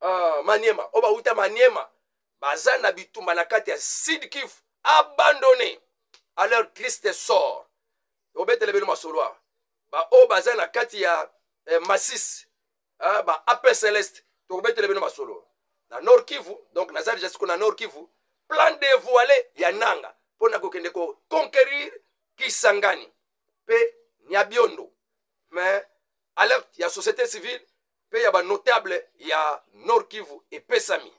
uh, maniema oyo bauta maniema baza na bitumba na kati ya sud kivu abandonne à leur triste sort obetele bino masolo awa baoyo baza na kati ya eh, masis eh, ba apre celeste tokobetele bino masolo na nord kivu donc naza deja siko na nord kivu plan devoile ya nanga mpo na kokende koconquerir kisangani mpe nyabiondo mais alerte ya société civile mpe ya banotable ya nord kivu epesami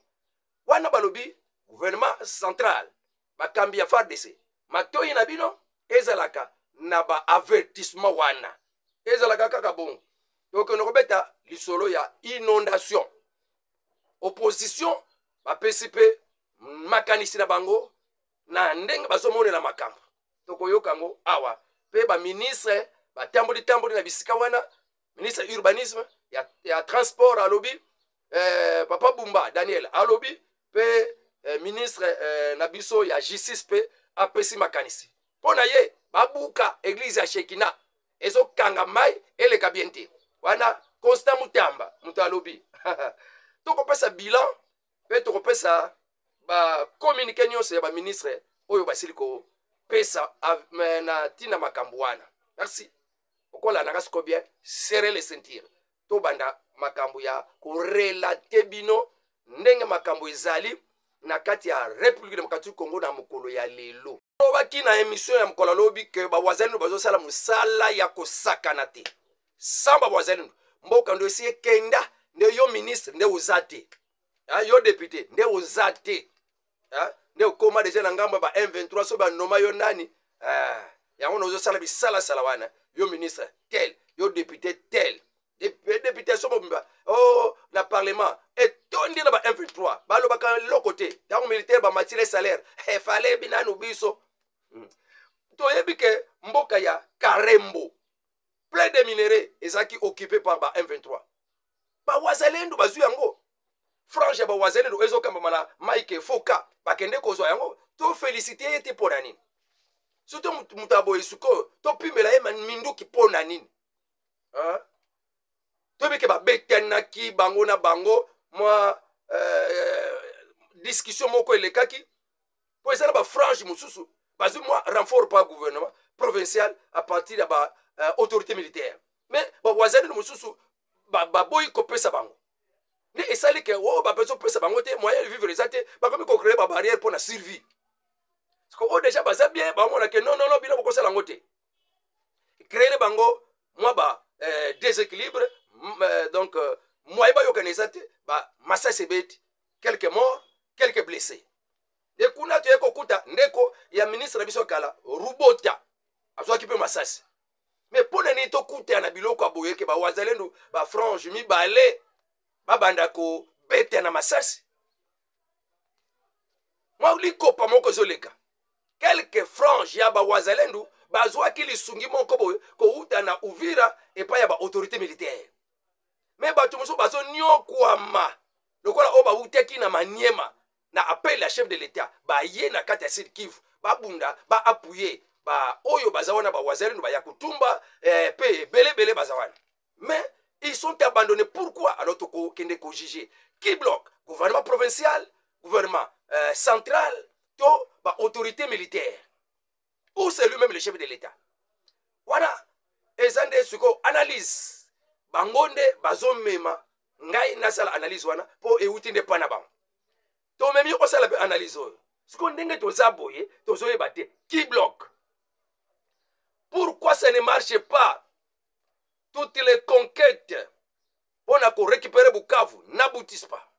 wana balobi gouvernement central bakambi ya fardc matoi na bino ezalaka na baavertissement wana ezalaka kaka bongo tokende kobeta lisolo ya inondation opposition bapesi mpe makanisi na bango na ndenge bazomonela makambo tokoyoka yango awa mpe baministre batamboli tamboli na bisika wana ministre urbanisme ya, ya transport alobi eh, papa bumba daniel alobi mpe eh, ministre eh, na biso ya justice mpe apesi makanisi mpo na ye babuka eglize ya shekina ezokanga mai eleka bien te wana constant mutamba moto alobi tokopesa bilan mpe tokopesa bakominike nyonso ya baministre oyo basili kopesa na ntina makambo wana merci okolandaka siko bien serre le ceinture tobanda makambo ya korelate bino ndenge makambo ezali na kati ya république démocratique congo na mokolo ya lelo olobaki na émission ya mokolo alobi ke bawazalindo bazosala mosala ya kosakana te sans bawazalindo mboka ndo esi ekenda nde yo ministre nde oza te yo depute nde oza te hein? nde okoma deja na ngambo ya ba m23 so banoma yo nani ah, yango na ozosala bisalasala wana yo ministre tel yo député tel député so mobimba o oh, na parlement etondi na ba m23 balobaka eloko te ntango militaire bamatire salaire efale eh, binanu biso hmm. toyebi ke mboka ya karembo plein de minerais ezalaki occupé par ba m23 bawazalendo bazwi yango frange ya bawazalendo ezokambama na mike foka bakende kozwa yango tofelisite ye te mpo na nini soto moto ya boye sikoyo topimela ye minduki mpo na nini toyebi ke babetanaki bango na bango mwa euh, discussion moko elekaki mpo eza na bafrange mosusu bazwi mwa renfort par gouvernement provincial à partir ya ba euh, autorité militaire mais bawazalino mosusu baboyi ba kopesa bango nde esali ke oyo oh, bapeso pesa bango te moyen de vivre eza te bakomi kocreye babarrière mpo na survie siko oyo oh, deja baza bien bamona ke non nono bino bokosala yango te créele bango mwa ba eh, déséquilibre eh, donc euh, moyen bayokana eza te bamasasi ebeti quelques morts quelques blessés nde kuna toye kokuta ndeko ya ministre na biso kala rubota azwaki mpe masasi me mpo na nini tokutana na biloko ya boyeke bawazalendu bafrange mibale babanda kobeta na masasi mwa likopa moko ezoleka kelke frange ya bawazalendu bazwaki lisungi moko boye kowuta na uvira epai ya baautorité militaire me bato mosusu bazoniokwama lokola oyo bawutaki na maniema na appel ya chef de l'etat baye na kati ya sud kivu babunda ba appuye baoyo baza wana bawazalendo baya kotumba eh, pe ebele ebele baza wana mais ils sont abandonnés pourquoi alors tokokende kojuge qui bloque gouvernement provincial gouvernement euh, central to baautorité militaire ou c'est lui-même le chef de l'état wana eza nde sikoyo analyse bango nde bazomema ngai nasala analyse wana mpo euti nde mpa na bango tomemi osala mpe analyse oyo sikoyo ndenge toza boye tozoyeba te qui bloque pourquoi ça ne marche pas toutes les conquêtes mpo na korécupere bukavu n'aboutissent pas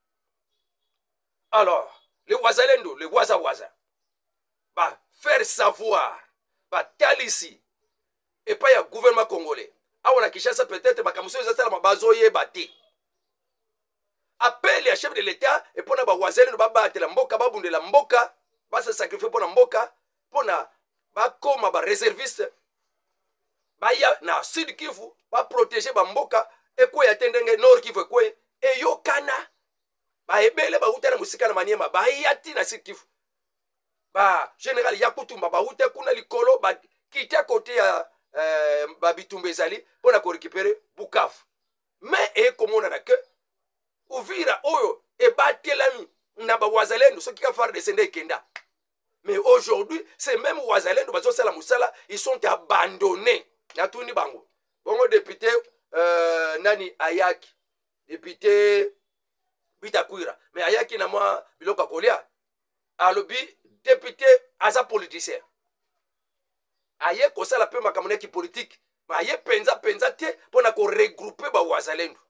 alors le wazalendo le wazawaza bafaire savoir batalisi epai ya gouvernement congolais awa na kinshasa peut-être makambo soki ezasalama bazoyeba te appel ya chef de l'etat epo na bawazalendo babatela mboka babundela mboka basa sacrifie mpo na mboka mpo na bakoma bareserviste baya na sud kivu baprotege bamboka ekweya te ndenge nord kivu ekweye eyokana baebele bauta na mosika na maniema baya ti na sud kivu ba general ya kutumba bawute kuna likolo bakite kote ya eh, babitumba ezali mpo na korekipere bukavu me ekomonana ke uvira oyo ebatelami na bawazalendo soki ka fardc nde ekenda mais aujourd'hui c'est même wazalendo bazosala mosala ils sont abandonnés natuni bango bongo depute euh, nani ayaki depute bitakwira mais ayaki na mwa biloko ya kolia alobi depute aza politicien aye kosala mpe makambo na kipolitike aye mpenza mpenza te mpo na koregroupe bawazalendu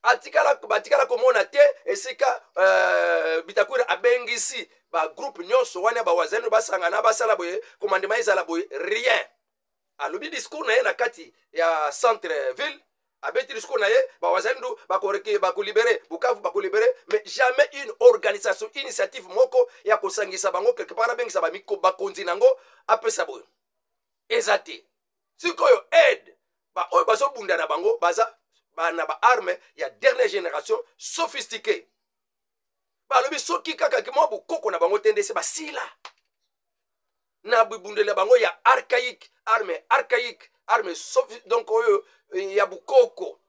atikala batikala komona te esika uh, bitakwira abengisi bagroupe nyonso wana ya bawazalendu basangana basala boye komandema ezala boye rien alobi discours na ye na kati ya centre ville abeti discours na ye bawazalendo bakolibere bukavu bakolibere mais jamais une organisation initiative moko ya kosangisa bango quelque part abengisa bakonzi na yango apesa boyo eza te sikoyo aide baoyo bazobunda na bango baza na baarme ya dernière génération sophistiqué balobi soki kaka mwa bokoko na bango te nde se basila na bibundeli ya bango ya archaïque arme archaïque arme sofi donc oyo eh, ya bukoko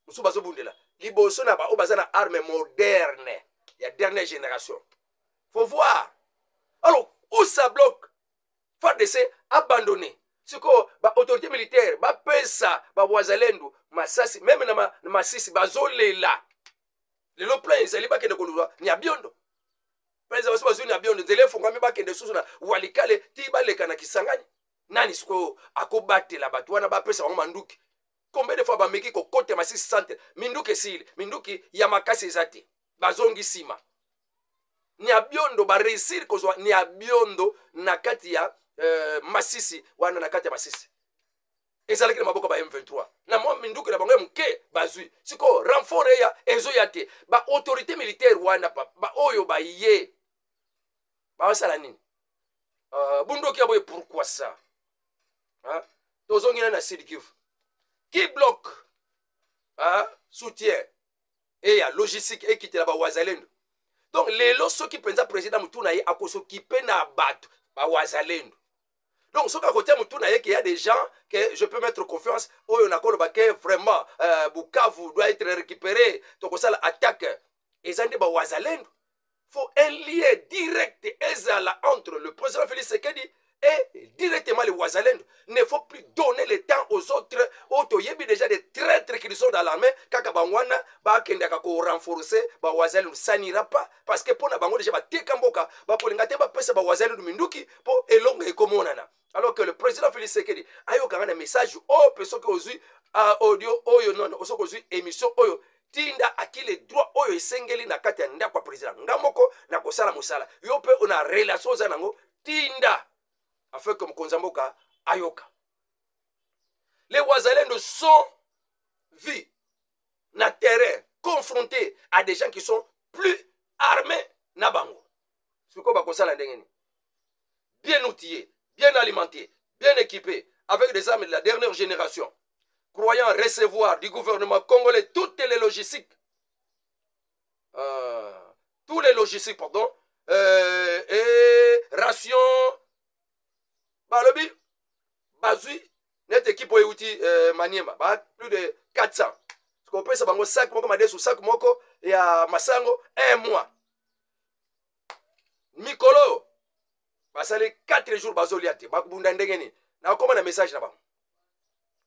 mosusu bazobundela liboso na baoyo baza na arme moderne ya dernière génération faut voir alors où ça bloque fardc abandonné sikoyo baautorité militaire bapesa bawazalendo masasi meme na, ma, na masisi bazolela lelo plan ezali bakende koluka nyabiondo mpenza basi bazwi na biondo nzela efungwami bakende susu na walikale ti baleka na kisangani nani sikoyo akobatela bato wana bapesa bango manduki combien de fois bameki kokota masisi centre minduki esili minduki ya makasi eza te bazongi nsima niabiondo bareusir kozwa niabiondo na kati ya euh, masisi wana na kati ya masisi ezalaki na maboko ya ba m23 na mwa minduki na bango ya moke bazwi sikoyo renfort eya ezoya te baautorité militaire wana papa baoyo baye basala nini uh, bundoki ya boye pourkui sa tozongi na na sud kivu ki bloc uh, soutien eya logistique ekitela bawazalendo donc lelo soki mpenza président motuna ye akosokipe na bato bawazalendo donc soki akotia motu na ye ke ya des gens que je peux mettre confiance oyo nakoloba ke vraiment euh, bukavu doit être récupéré tokosala attaque eza nde bawazalendo faut un lien direct ezala entre le président félix sekedi et directement les wazalendo ne faut plus donner le temps aux autres oyo toyebi déjà des traîtres qui sont dans l'armée kaka bango wana bakendaka korenforce bawazalendo sanira pas parce que mpo na bango déjà bateka mboka bakolinga te bapesa bawazalendo minduki mpo elonga ekomonana alors que le président félix sekedi ayokanga na message oyo mpe soki ozwi audio oyo nono soki ozwi émission oyo tinda akile droit oyo esengeli na kati ya ndako ya président nga moko na kosala mosala yo mpe ona relation oza nango tinda afin que mokonzi ya mboka ayoka les wazalendo sont vus na terrain confrontés à des gens qui sont plus armés na bango sikoyo bakosala ndenge nini bien outillé bien alimenté bien équipé avec des armes de la dernière génération croyant recevoir du gouvernement congolais toutes les logistiques euh, tous les logistiques pardon euh, et ration balobi bazwi neti ekipe oyo euti euh, maniema ba plus de 400 kopesa bango sac moko madesu sac moko ya masango un mois mikolo oyo basali 4 jours bazolia te bakobunda ndenge nini nakoma na message na bango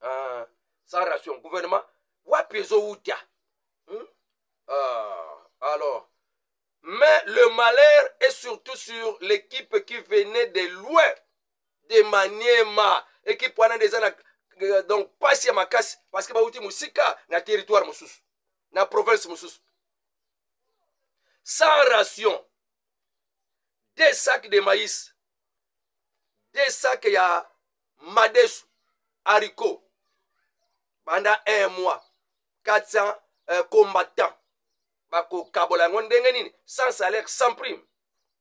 uh, sans ration gouvernement wapi ezowuta hmm? uh, alors mais le malheur est surtout sur l'équipe qui venait de loin de maniema équipe wana nde eza na euh, donc pasi ya makasi parce que bauti mosika na territoire mosusu na province mosusu sans ration deux sacs de maïs deux sacs ya madesu haricot banda un mois 400 euh, combattants bakokabola yango ndenge nini sans salaire sans prime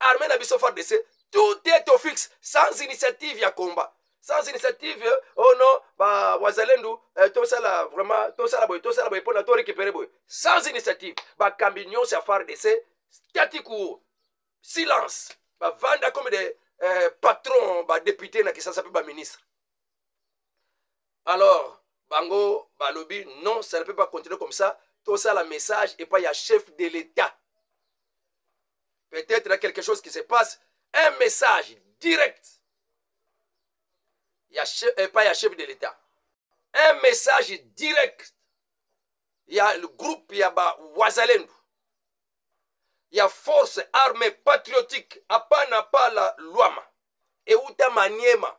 armée na biso fardc tout est au fixe sans initiative ya combat sans initiative oh non ba wazalendu eh, tosala vraiment tosala boye tosala boye mpona to récupéré boye sans initiative bakambi nyonso ya fardc statiku silence bavanda comme des eh, patron badepute na kisasa mpe baministre alors bango balobi non ça ne peut pas continuer comme ça tosala message epai ya chef de l'état peut-être na quelque chose qui se passe un message direct ya chef, epai ya chef de l'état un message direct ya le groupe ya bawazalendu ya force armée patriotique apana pala lwama euta maniema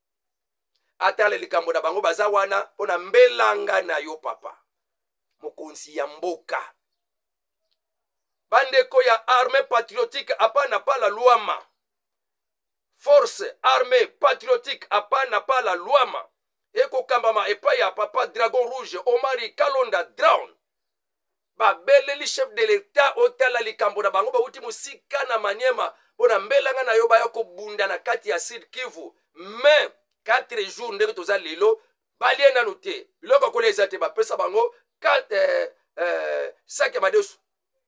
atala likambo na bango baza wana mpo na mbelanga na yo papa mokonzi ya mboka bandeko ya armée patriotique apana pala luama force armée patriotique apana pala luama ekokambama epai ya papa dragon rouge omari kalonda drown babeleli chef de l'etat otala likambo na bango bauti mosika na maniema mpo na mbelanga na yo baya kobunda na kati ya sud kivu mai 4 jours ndenge toza lelo balie nanu te biloko ya kolia eza te bapesa bango eh, eh, saki ya madesu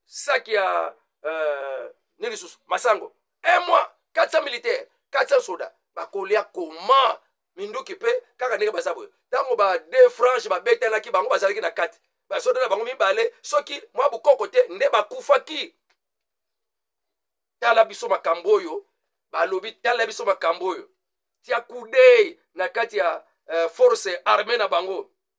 saki ya eh, nini lisusu masango un mois 400 militaire 400 soda bakolia koma minduki mpe kaka ndenge baza boye ntango ba deux franche babetanaki bango bazalaki na kati basoda na bango mibale soki mwa bokoko te nde bakufaki tala biso makambo oyo balobi tala biso makambo oyo tia kudei na kati ya uh, force armée na bango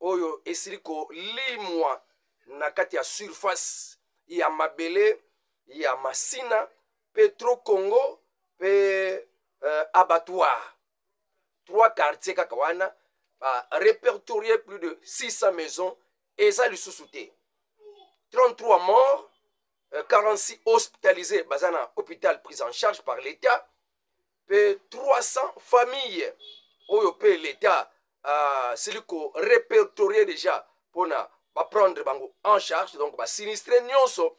oyo esili kolimwa na kati ya surface ya mabele ya masina petro congo mpe euh, abattoir trois quartier kaka wana ba repertorier plus de 600 maisons eza lisusu te 33 morts 46 euh, hospitalisés baza na hôpital prise en charge par l'état mpe 300 famille oyo mpe leta asili ko repertorie déjà mpona baprendre bango en charge donc basinistre nyonso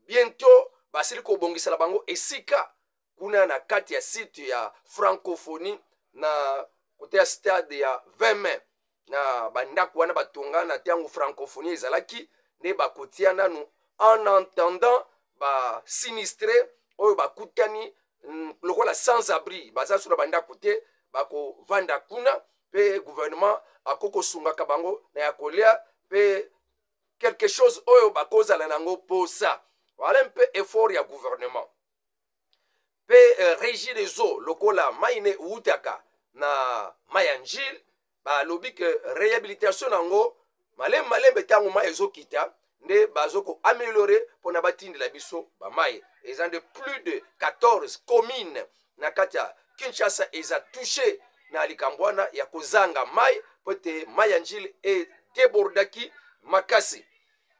bientôt basili kobongisela bango esika kuna na kati ya site ya francophonie na kote ya stade ya 20 mai na bandako wana batonga na ntango francophonie ezalaki nde bakotia nanu en entendant basinistre oyo bakutani mm, lokola sans abri baza so na bandako te bakovanda kuna mpe gouvernement akoki kosungaka bango na ya kolia mpe quelque chose oyo bakozala na yango mposa wala mpe effort ya gouvernement mpe eh, regi des eaux lokola mai ne eutaka na mai ya njile balobi ke rehabilitation na yango malembe malembe ntango mai ezokita nde bazo koameliore mpona batindela biso bamai eza nde plus de 14 commune na kati ya kinshasa eza touche na likambo wana ya kozanga mai mpo ete mai ya njile edebordaki makasi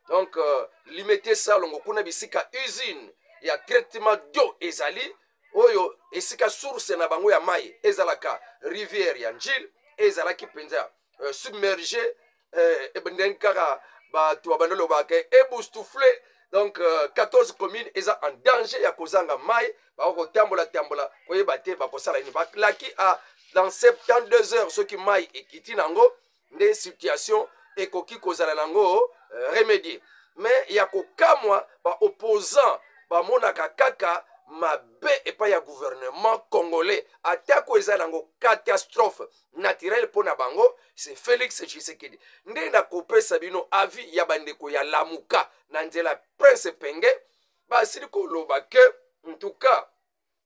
donc euh, limete salongo kuna bisika usine ya traitement d'eau ezali oyo esika source na bango ya mai ezalaka rivière ya njile ezalaki mpenza euh, submerge euh, ndenge kaka bato babanda lobaka eboustoufle donc euh, 14 commune eza en danger ya kozanga mai bakoki kotambola tambola koyeba te bakosala nini balaki a dans 72 heures soki mai ekiti na yango nde situation ekoki kozala nango euh, remedie mais ya kokamwa ba opposant bamonaka kaka mabe epai ya gouvernement congolais atako eza nango catastrophe naturelle mpo na bango se félix tshisekedi nde nakopesa bino avis ya bandeko ya lamuka na nzela prince penge basili koloba ke ntuka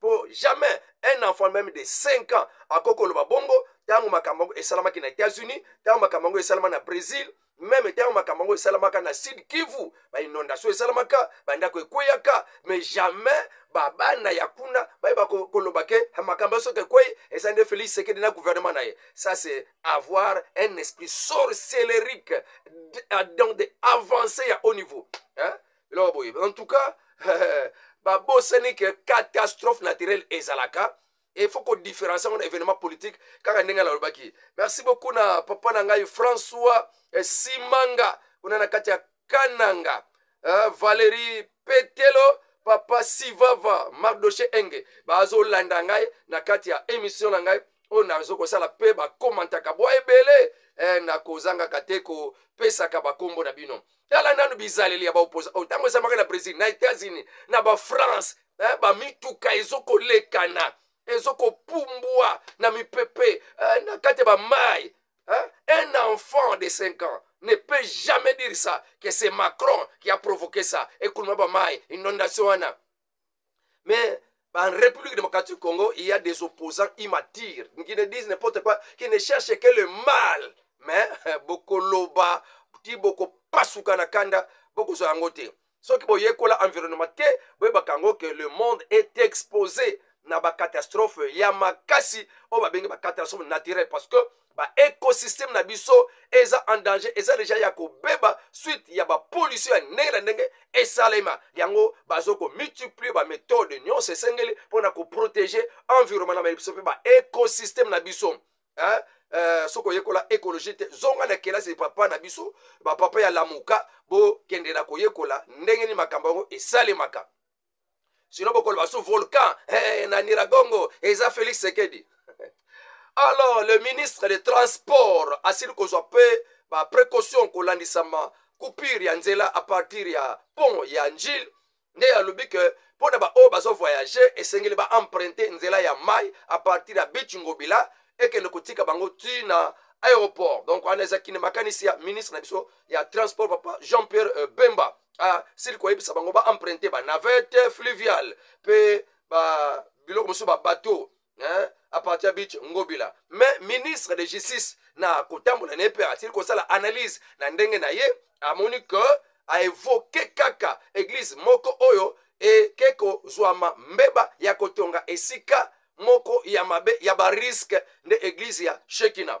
po jamais un enfant même de 5 ans akoki koloba bongo ntango makambo yango esalamaki na états-unis ntango makambo yango esalama na brésil meme ntango makambo yango esalamaka na sud kivu bainondation esalamaka bandako ekweyaka mais jamais babana ya kuna bayeba koloba ke makambo soki ekwei eza nde félix sekedi na gouvernement na ye ça c'est avoir un esprit sorcellerique dans de avancé ya haut niveau hein? eloko boye en tout cas babosani ke catastrophe naturelle ezalaka il faut kodifferencie yango na événement politique kaka ndenge nalobaki merci beaucoup na papa na ngai françois eh, simanga kuna na kati ya kananga uh, valérie petelo papa sivava mardoche enge bazolanda ngai na kati ya émission na ngai oyo nazo kosala mpe bakomantaka bwa ebele eh, nakozangaka te kopesaka bakombo na bino tala nanu bizaleli ya baoposa oyo oh, ntango ezamaka na brésil na états-unis na bafrance eh, bamituka ezokolekana ezokopumbwa na mipepe eh, na kati ya bamai eh, un enfant de 5 ans ne peut jamais dire ça que c'est macron qui a provoqué ça ekuluma bamai inondation wana mais en République démocratique du Congo, il y a des opposants immatures qui ne disent n'importe quoi, qui ne cherchent que le mal. Mais boko loba, ti boko pasuka na kanda, boko zo yango te. Ce qui boye kola environnement te, boye bakango que le monde est exposé na ba catastrophe ya makasi, o ba bengi ba catastrophe naturelle parce que ba ecosystème na biso eza en danger eza deja ya kobeba suite ya bapolisi ya ndenge na ndenge esalema yango bazo komultiplie bamethode nyonso esengeli mpo na koprotege environnement na biso mpe ba ecosystème na biso hein? Uh, soki oyekola ekologie te zonga na kelasi papa na biso bapapa ya lamuka bokendela koyekola ndenge nini makambo yango esalemaka sino bokoloba su volcan hey, eh, na niragongo eza félix sekedi alors le ministre de transport asili kozwa mpe baprécaution kolandisama coupure ya nzela à partir ya pont ya njile nde alobi ke mpo na baoyo bazovoyage esengeli baemprunte nzela ya mai à partir ya beach ngobila ekende kotika bango ti na aéroport donc wana eza kine makanisi ya ministre na biso ya transport papa jean pierre euh, bemba ah, sili koyebisa bango ba emprunte ba navette fluviale mpe ba biloko mosusu ba bateau hein, à partir ya beach ngobila mais ministre de justice na kotambola na ye mpe asili kosala analyse na ndenge na ye amoni ke aevoke kaka eglize moko oyo eke kozwama mbeba ya kotonga esika moko ya mabe ya bariske nde eglize ya shekina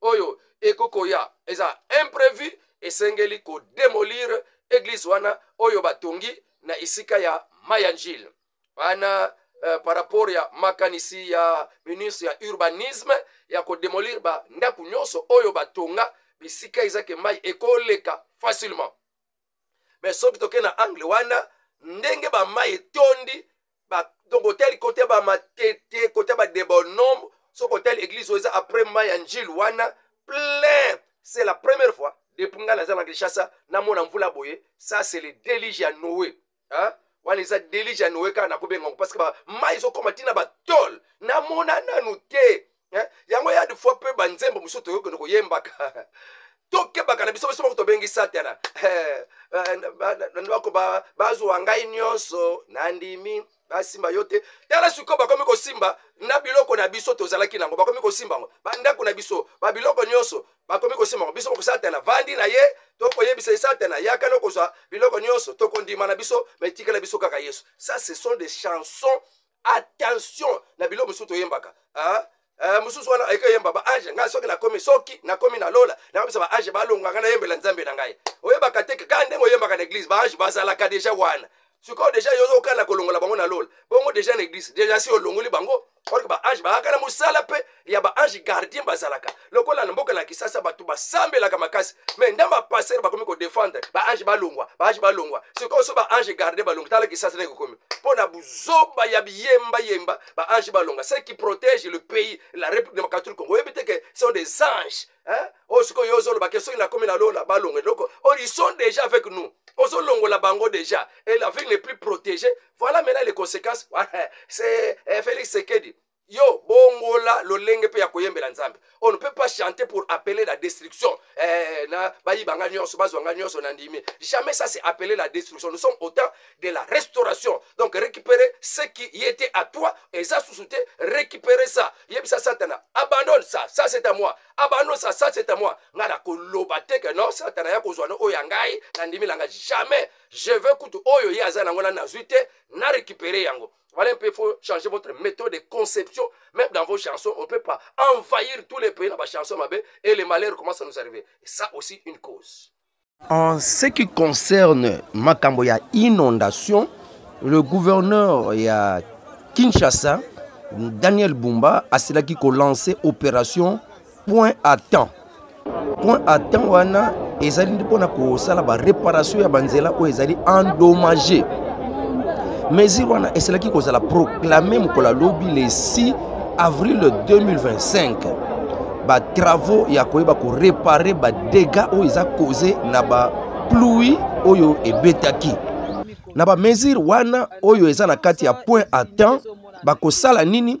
oyo eko koya eza imprevu esengeli kodemolire eglise wana oyo batongi na esika ya mayangile wana eh, par rapport ya makanisi ya ministre ya urbanisme ya kodemolire bandako nyonso oyo batonga bisika ezake mai ekoleka facilement me soki toke na angle wana ndenge bamai etondi donc otali kote bamatete kote badebonombe soki otali eglise oyo eza après mai ya njile wana plein c'est la première fois depuis ngai naza na kinshasa namona mvula boye ça c'est le délige ya noe hein? wana eza delige ya noe kaka nakobenga yango parce que mai ezokoma ntina batole namona nanu te hein? yango ya de fois mpe banzembo mosusu toyokende koyembaka tokebaka na biso biso moko tobengi satana eh, eh, bako bazwa ngai nyonso nandimi basimba yo te tala sikoyo bakomi kosimba na biloko na biso tozalaki nango bakomi kosimba yango bandako na biso babiloko nyonso bakomi kosimako biso moko satana vandi na ye tokoyebisa ye satana yaka na kozwa biloko nyonso tokondima na biso metikela biso kaka yesu ça ce sont des chansons attention na biloko mosusu toyembaka hein? Eh, mosusu wana ayeke oyemba baange ngai soki nakomi soki nakomi na lola nakobisa baange balonga ngai nayembela nzambe na ngai oyebaka te kaka ndenge oyembaka na eglize baange bazalaka deja wana sikoyo deja yo okana kolongola bango na lola bongo deja na eglize deja si olongoli bango orke baange baaka na mosala mpe ya baange gardien bazalaka lokola na mboka na kisasa bato basambelaka makasi mai nde bapastere bakomi kodefendre baange balongwa baange balongwa sikoyo so baange gardien balongwa tala kisasa ndenge kokomi mpo na buzoba ya biyembayemba baange balongwa ce qui protège le pays la république démocratique du congo oyebi te ke sont des anges hein? oyo sikoyo yo ozoloba ke soki nakomi na lola balongwa eloko or ils sont déjà avec nous ozolongola bango déjà et la ville n'est plus protégée voilà maintenant les conséquences c'est eh, félix sekedi yo bongola lolenge mpe ya koyembela nzambe on ne peut pas chanter pour appeler la destruction eh, na bayiba nga nyonso bazwa nga nyonso na ndimi jamais ça c'est appeler la destruction nous sommes au temps de la restauration donc récupérer ce qui y était à toi eza susu te récupérer ça yebisa satana abandonne ça ça c'est à moi abandonne ça ça c'est à moi nga nakoloba te que non satana ya kozwa no oyo ya ngai na ndimi na ngai jamais je veux kutu oyo ye aza nango na nazwi te na récupérer yango voilà un peu faut changer votre méthode de conception même dans vos chansons on peut pas envahir tous les pays na ba chansons mabe et les malheurs commence à nous arriver et ça aussi une cause en ce qui concerne makambo ya inondation le gouverneur ya kinshasa daniel bumba asilaki kolancer opération point à temps point à temps wana ezali nde mpona kosala baréparation ya banzela oyo ezali endommage mesure wana esalaki kozala proclame mokolo ya lobi le 6 avril 2025 batravaux ya koyeba korepare badega oyo eza cause na bapluie oyo ebetaki na bamesure wana oyo eza na kati ya point à temps bakosala nini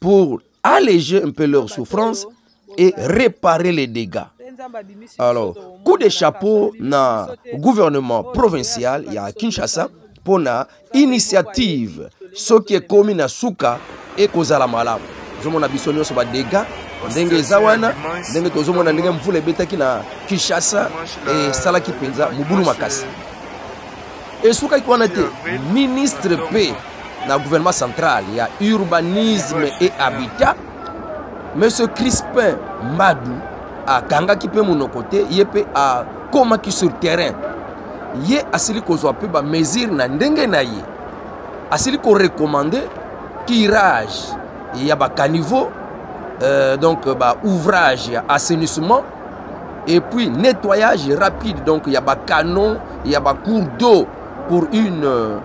pour alléger un peu leur souffrance et réparer les dégâts. Alors, coup de chapeau na gouvernement provincial ya Kinshasa mpo na initiative soki ekomi na suka ekozala malamu ozomona biso nyonso badega ndenge eza wana ndenge tozomona ndenge mvula ebetaki na kinshasa esalaki mpenza mobulu makasi esukaki wana te ministre mpe na gouvernement central ya urbanisme et habitat monsieur crispin mbadu akangaki mpe monoko te ye mpe akomaki sur terrain ye asili kozwa mpe bamesure na ndenge na ye asili korekomande tirage ya bacaniveau euh, donc baouvrage ya assainissement et puis nettoyage rapide donc ya ba canon ya ba cour d'eau pour une euh,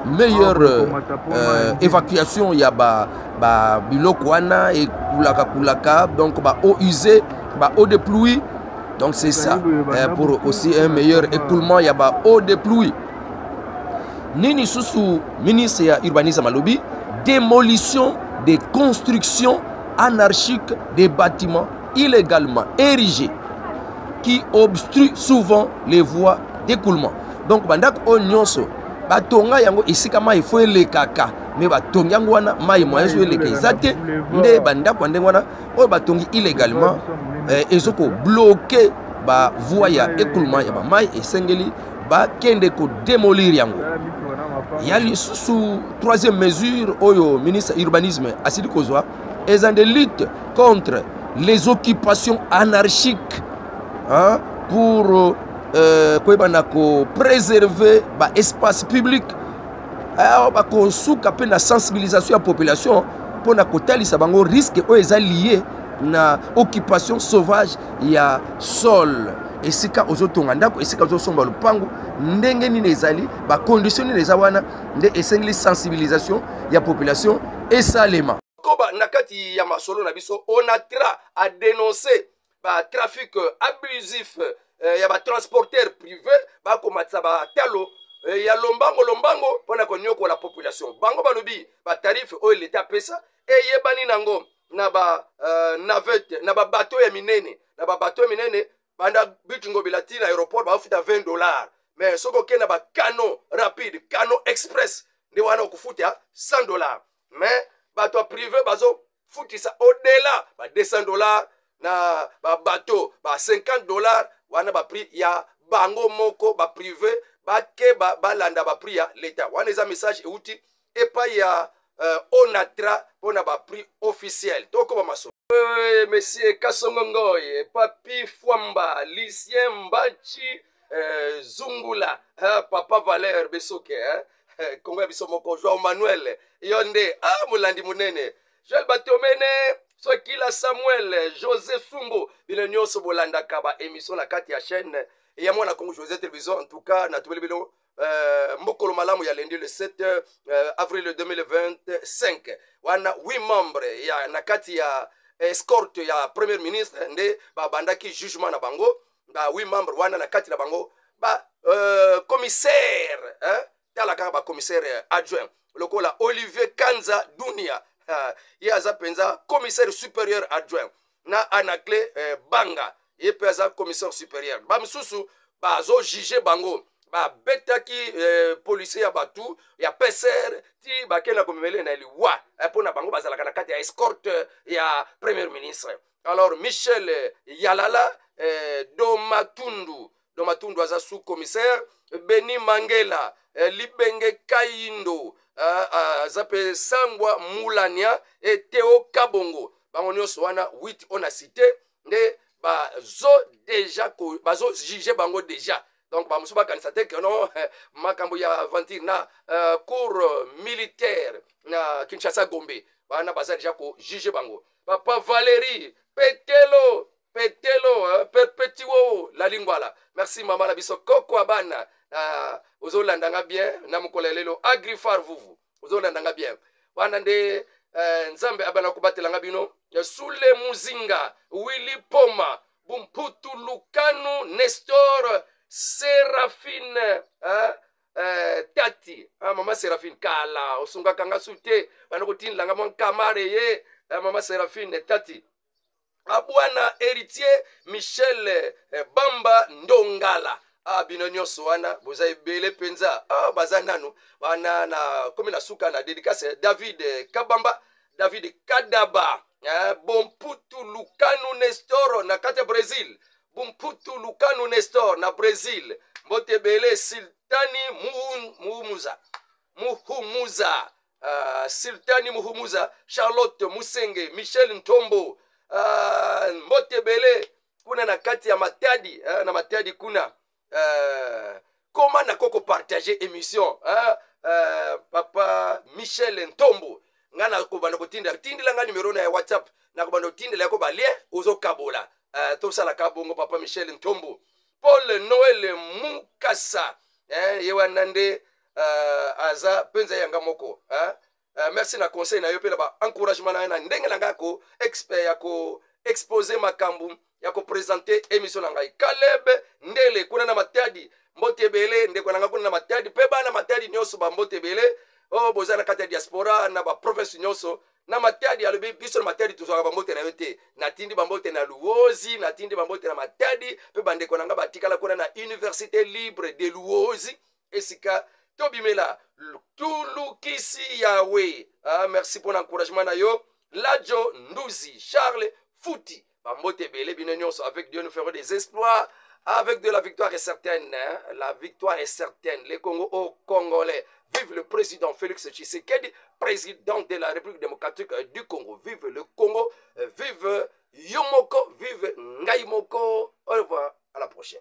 meilleure euh, euh, évacuation ya ba, ba biloko wana ekulaka kulaka donc ba eau usée ba eau de pluie donc c'est ça euh, pour aussi un meilleur écoulement ya ba eau de pluie nini susu ministre ya urbanisme alobi démolition des constructions anarchiques des bâtiments illegalement érigé qui obstrue souvent les voies d'écoulement donc bandako oyo nyonso batonga yango esika mai fo elekaka me batongi yango wana mai moyen ezo eleka eza te nde bandako ya ndenge wana oyo batongi illegalement eh, ezokobloke bavoi ya ekuluma ya bamai esengeli bakende kodemolir yango ya lisusu troisième mesure oyo ministre ya urbanisme asili kozwa eza nde lutte contre les occupations anarchiques hein, pour euh, euh koyeba na kopréserver baespace public awa bakosuka mpe na sensibilisation ya population mpo na kotalisa bango risque oyo eza lie na occupation sauvage ya sol esika ozotonga ndako esika ozosomba lopango ndenge nini ezali bakondition nini eza wana nde esengeli sensibilisation ya population esalema koba na kati ya masolo na biso onatra a denonce batrafic abusif eh, ya batransporteur privé bakomatisa batalo eh, ya lombango lombango mpo na konyokola population bango balobi batarife oyo leta apesa eyebani nango na ba uh, navette na babato ya minene na babato ya minene banda but ngobila ti na aéroport baofuta 20 dollars mais soki okenda ba cano rapide cano express nde wana okofuta 100 dollars mais bato ya privé bazofutisa odela ba 200 dollars na babato ba 50 dollars wana baprix ya bango moko baprive bakeba balanda baprix ya leta wana eza message euti epai ya euh, onatra mpo na baprix officiel tokoba masolo euh, monsieur kasongo ngoye papi fwamba lucien mbachi euh, zungula hein, papa valeur besoke hein? Eh, kongo ya biso moko joao manuel yo nde ah, molandi monene joel batomene sokila samuel josé sumbu bino nyonso bolandaka baémission na kati ya chaîne ya mwana kongo josé télévision en tout cas natubeli bino uh, mokolo malamu ya lendi le 7 uh, avril 2025 wana 8 membre ya na kati ya escorte ya premier ministre nde babandaki jugement na bango ba 8 membre wana na kati na bango ba uh, commissaire eh? tala kaka bacommissaire adjoint lokola olivier kanza dunia uh, ye aza mpenza commissaire supérieur adjoint na anacle eh, banga ye mpe aza commissaire supérieur bamosusu bazojuge bango babetaki eh, policier ya bato ya pcr ti bakei na komemele na liwa eh, mpo na bango bazalaka na kati ya escorte ya premier ministre alors michel eh, yalala eh, domatundu do matundu aza sous commissaire beni mangela eh, libenge kayindo eh, eh, aza mpe sangwa mulania eteo kabongo bango nyonso wana 8 oyo na cité nde bazo deja bazojuge bango deja donc bamosusu bakanisa te ke no eh, makambo ya aventure na uh, cour militaire na kinshasa gombe wana baza deja kojuge bango papa valérie petelo petelo eh, perpetiwo la lingwala merci mama na biso koko abana uh, ah, ozolanda nga bien na mokolo ya lelo agrifar vuvu ozolanda nga bien wana nde uh, nzambe abana kobatela nga bino eh, sule muzinga willi poma bumputu lukanu nestor serafine uh, Eh, tati ah, mama seraphine kala osungaka nga su te banda kotindela nga mwa nkamare ye eh, mama seraphine tati ah, bwana heritier michel eh, bamba ndongala ah, bino nyonso wana boza ebele mpenza ah, baza nano wana na komi na suka na dedicace eh, david eh, kabamba david kadaba eh, bomputu lukanu nestoro na kati ya brésil bomputu lukanu nestor na brésil mbote ebele sultani muhumuza muhumuza uh, sultani muhumuza charlotte musenge michel ntombo uh, mbote ebele kuna na kati ya matadi uh, na matadi kuna uh, koma nako kopartage émission uh, uh, papa michel ntombo ngai nakobanda kotindela tindela ngai numero na ya whatsapp nakobanda kotindela yako balien ozokabola uh, tosalaka bongo papa michel ntombo paul noel mukasa eh, ye wana nde uh, aza mpenza yanga moko uh, uh, merci na conseil na yo mpe na baencouragement na yo na ndenge na ngai ko expert ya ko expose makambo ya kopresente émission na ngai kaleb ndele kuna na matadi mbote ebele ndeko na ngai kuna na matadi mpe bana matadi nyonso bambote ebele oyo oh, boza na kati ya diaspora na baprovince nyonso na matadi alobi biso na matadi tozwaka bambote na yo te natindi bambote na luozi natindi bambote na matadi mpe bandeko na ngai batikala kuna na université libre de luozi esika tobimela tolukisi yawe ah, merci mpo na encouragement na yo lajo nduzi charles futi bambote ebele bino nyonso avec dieu nous ferons des espoirs avec de la victoire est certaine hein? la victoire est certaine le congo au congolais vive le président félix tshisekedi président de la république démocratique euh, du congo vive le congo euh, vive yo moko vive ngai moko au revoir à la prochaine